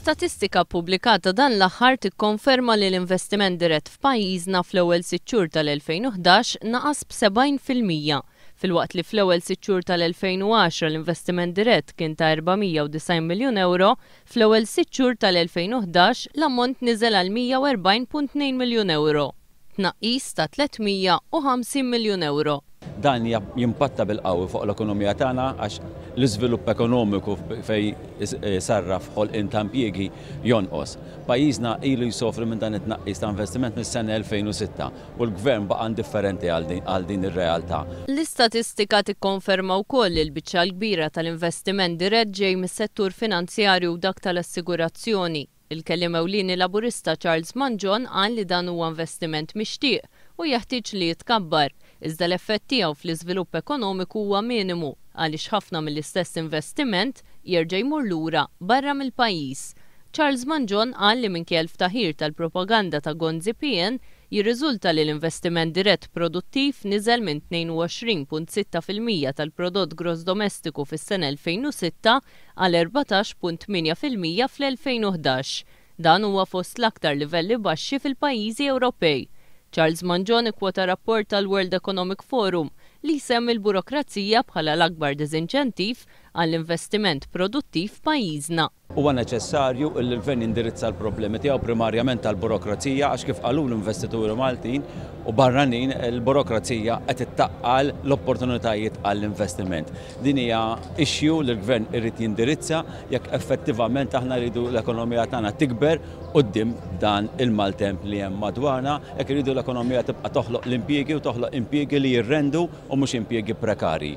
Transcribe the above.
Statistika ppubblikata dan l-aħħar tikkonferma li l-investiment dirett f'pajjiżna fl-ewwel sitt xhur tal-2011 naqas b'sebgħin fil-mija, filwaqt li fl-ewwel sitt xhur tal-2010 l-investiment dirett kien ta' 490 miljun ewro, fl-ewwel sitt xhur tal-2011 l-ammont niżel għal 140.2 miljun ewro. tnaqqis ta' 350 miljun ewro. Dan jimpatta bil-qawwi fuq l-ekonomija tagħna għax l-iżvilupp ekonomiku fejn isarraf ħolqien ta' impjiegi jonqos. Pajjiżna ilu jsofri minn dan it-tnaqqis ta' investiment mis-sena 2006 u l-Gvern baqa' indifferenti għal din ir-realtà. L-istatistika tikkonferma wkoll li l-biċċa l-kbira tal-investiment dirett ġej mis-settur finanzjarju u dak tal-assigurazzjoni. Il-Kelliem Ewlieni Laburista Charles Mangion qal li dan huwa investiment mixtieq u jeħtieġ li jitkabbar, iżda l-effett tiegħu fl-iżvilupp ekonomiku huwa minimu għaliex ħafna mill-istess investiment jerġa' jmur lura barra mill-pajjiż. Charles Mangion qal li minkejja l-ftaħir tal-propaganda ta' Gonzi PN jirriżulta li l-investiment dirett produttiv niżel minn 22.6 fil-mija tal-Prodott Gross Domestiku fis-sena 2006 għal 14.8 fil-mija fl-2011. Dan huwa fost l-aktar livelli baxxi fil-pajjiżi Ewropej. Charles Mangion ikkwota rapport tal-World Economic Forum li jsemmi l-burokrazija bħala l-akbar diżinċentiv għall-investiment produttiv f'pajjiżna. Huwa neċessarju li l-Gvern jindirizza l-problemi tiegħu primarjament tal-burokrazija għax kif qalu l-investituri Maltin u barranin, il-burokrazija qed ittaqqal l-opportunitajiet għall-investiment. Din hija issue li l-Gvern irid jindirizza jekk effettivament aħna rridu l-ekonomija tagħna tikber quddiem dan il-maltemp li hemm madwarna, jekk irridu l-ekonomija tibqa' toħloq l-impjiegi u toħloq impjiegi li jirrendu u mhux impjiegi prekarji.